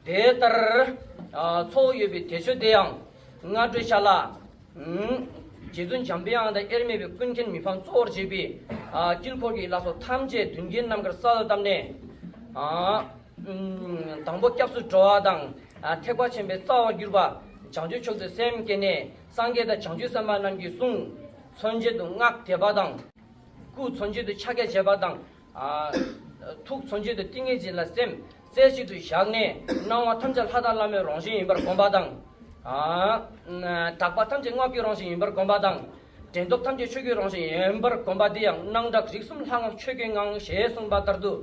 དེ་ལྟར་ཚོགས་ཡོད་པའི་དེ་ཆོས་དེ་ཡང་སྔ་དྲོའི་ཤ་ལ། རྗེ་བཙུན་འཇམ་དཔལ་དབང་དང་དབྱེར་མེད་པའི་ཀུན་མཁྱེན་མི་ཕམ་གཙོ་བོར་བྱས་པའི་དཀྱིལ་འཁོར་གྱི་བླ་སྲོག་ཐམས་ཅད་མདུན་བསྐྱེད་རྣམ་དཀར་ས་ལ་བཏབ་ནས། དང་པོ་སྐྱབས་སུ་འགྲོ་བ་དང་ཐེག་པ་ཆེན་པོའི་རྩ་བར་གྱུར་པ་བྱང་ཆུབ་མཆོག་ཏུ་སེམས་བསྐྱེད་ནས་སངས་རྒྱས་དང་བྱང་ཆུབ་སེམས་དཔའ་རྣམས་ཀྱི་གསུང། མཚོན་བྱེད་དུ་སྔགས་བཟླས་པ་དང། སྐུ་མཚོན་བྱེད་དུ་ཕྱག་རྒྱ་བྱེད་པ་དང་ཐུགས་མཚོན་བྱེད་དུ་ཏིང་ངེ་འཛིན་ལ་སེམས་རྩེ་གཅིག་ཏུ་བཞག་ནས་སྣང་བ་ཐམས་ཅད་ལྷ་དང་བླ་མའི་རང་བཞིན་ཡིན་པར་བསྒོམ་པ་དང། དག་པ་ཐམས་ཅད་སྔགས་ཀྱི་རང་བཞིན་ཡིན་པར་བསྒོམ་པ་དང། དྲན་སྟོབས་ཐམས་ཅད་ཆོས་ཀྱི་རང་བཞིན་ཡིན་པར་བསྒོམ་པ་འདི་ཡང་སྣང་གྲགས་རིག་གསུམ་ལྷ་སྔགས་ཆོས་ཀྱི་ངང་ཞེས་གསུངས་པ་ལྟར་དུ།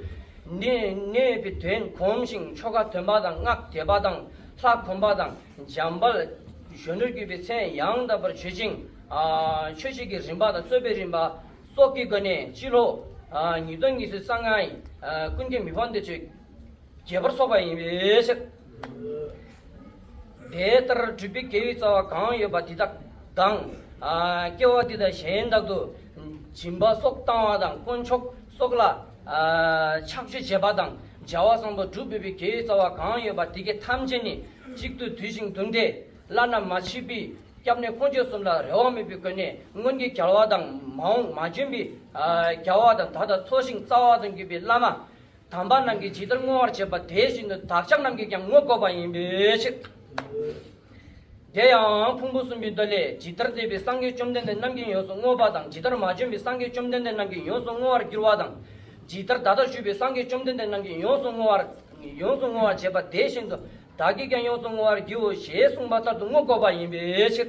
གནས་པའི་དོན་གོམས་ཤིང་ཆོ་ག་འདོན་པ་དང་སྔགས་རྒྱས་པ་དང་ལྷ་གོམས་པ་དང་འཇམ་དཔལ་གཞོན་ནུར་གྱུར་པའི་མཚན་ཡང་དག་པར་བརྗོད་ཅིང། མཆོད་བྱེད་ཀྱི་རིམ་པ་དང་རྩོད་པའི་རིམ་པ། སོགས་ཀྱི་སྒོ་ནས་སྤྱི་ལོ་ཉིས་སྟོང་ཉི་ཤུ་རྩ་ལྔ་ཡི་ཀུན་མཁྱེན་མི་ཕམ་འདས་མཆོད་རྒྱས་པར་སོགས་པ་ཡིན་པའི་ཕྱིར། དེ་ལྟར་སྤྲུལ་པའི་དགེ་བའི་རྩ་བ་གང་ཡོད་པ་དེ་དག་དང། སྐྱེ་བ་འདི་དང་གཞན་དག་ཏུ་སྦྱིན་པ་སོགས་བཏང་བ་དང་དཀོན་མཆོག་སོགས་ལ་ཕྱག་མཆོད་བྱེད་པ་དང་སྦྱར་བ་བཟང་པོ་སྒྲུབ་ཕོད་པའི་དགེ་བའི་རྩ་བ་གང་ཡོད་པ་དེ་དགེ་ཐམས་ཅད་ནི་གཅིག་ཏུ་འདུས་ཤིང་བསྡུམས་ཏེ་བླ་ན་མ་མཆིས་པའི་སྐྱབས་གནས་ཀུན་སྤྱོད་གསུམ་ལ་རེ་བ་མེད་པའི་སྒོ་ནས་སྔོན་གྱི་གར་བ་དང་མ་འོངས་མ་བྱོན་པའི་གར་བ་དང་ད་ལྟ་འཚོ་ཞིང་རྩ་བ་དང་བརྒྱུད་པའི་བླ་མ་དམ་པ་རྣམས་ཀྱིས་ཇི་ལྟར་བསྔོ་བར་བྱེད་པ་དེ་བཞིན་དུ་བདག་ཅག་རྣམས་ཀྱིས་ཀྱང་བསྔོ་དགོས་པ་ཡིན་པའི་ཕྱིར། དེ་ཡང་ཕུང་པོ་གསུམ་པའི་མདོ་ལས་ཇི་ལྟར་འདས་པའི་སངས་རྒྱས་བཅོམ་ལྡན་འདས་རྣམས་ཀྱིས་ཡོངས་སུ་བསྔོ་བ་དང་ཇི་ལྟར་མ་བྱོན་པའི་སངས་རྒྱས་བཅོམ་ལྡན་འདས་རྣམས་ཀྱིས་ཡོངས་སུ་བསྔོ་བར་འགྱུར་བ་དང། ཇི་ལྟར་ད་ལྟ་བཞུགས་པའི་སངས་རྒྱས་བཅོམ་ལྡན་འདས་རྣམས་ཀྱིས་ཡོངས་སུ་བསྔོ་བར་བྱེད་པ་དེ་བཞིན་དུ་བདག་གིས་ཀྱང་ཡོངས་སུ་བསྔོ་བར་བགྱིའོ་ཞེས་གསུངས་པ་ལྟར་དུ་དངོས་བསྐོར་བ་ཡིན་པའི་ཕྱིར།